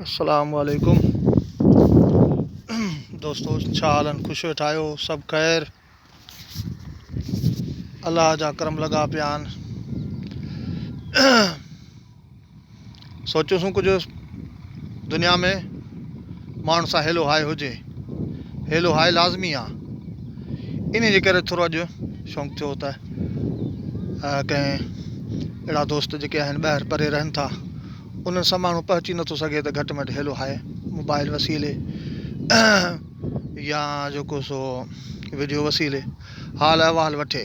السلام عليڪم دوستو ڇا حال آهن خوش ويٺا آهيو سڀ خير الله جا کرم لڳا پيا آهن سوچيوسون ڪجهه دنيا ۾ ماڻهن سان هيلو هاء هجي هيلو هاء لازمي آ انهي جي ڪري ٿورو اڄ شونق ٿيو ته ڪنهن اهڙا دوست جيڪي آهن ٻاهر پري رهن ٿا انهن سان ماڻهو پهچي نٿو سگهي ته گهٽ مٽ هيلو هاء موبائل وسيلي يا جيڪو سو وڊيو وسيلي حال احوال وٺي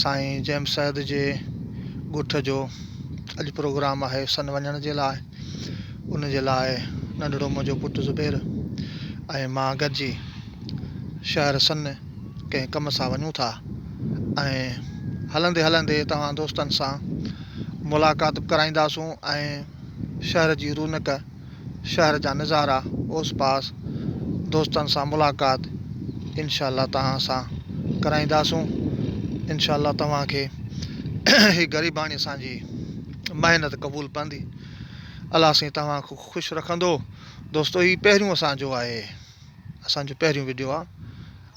سائين جيمس سيد جي ڳوٺ جو اڄ پروگرام آهي سن وڃڻ جي لاء ان جي لاء ننڍڙو منهنجو پٽ زبير ۽ مان گڏجي شهر سن ڪنهن ڪم سان وڃون ٿا ۽ هلندي هلندي توهان دوستن سان ملاقات به ڪرائينداسون ۽ شهر جي رونق شهر جا نظارا اوس پاس دوستن سان ملاقات انشاء الله توهان سان ڪرائينداسون انشاء الله توهان کي هي غريباڻي اسان جي محنت قبول پوندي الله سائين توهان کي خوش رکندو دوستو هي پهريون اسان جو آهي اسان جو پهريون ويڊيو آ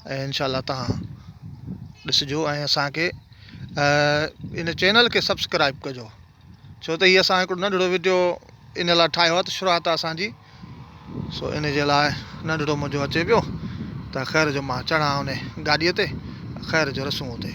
۽ انشاء الله توهان ڏسجو ۽ اسان کي ان چينل کي سبسڪرائب ڪجو ڇو ته هي اسان هڪڙو ننڍڙو وڊيو ان لاء ٺاهيو آهي ته شروعات آهي اسان جي سو ان جي لاء ننڍڙو منهنجو اچي پيو ته خير جو مان چڙهان ان گاڏيء تي خير جو رسون اتي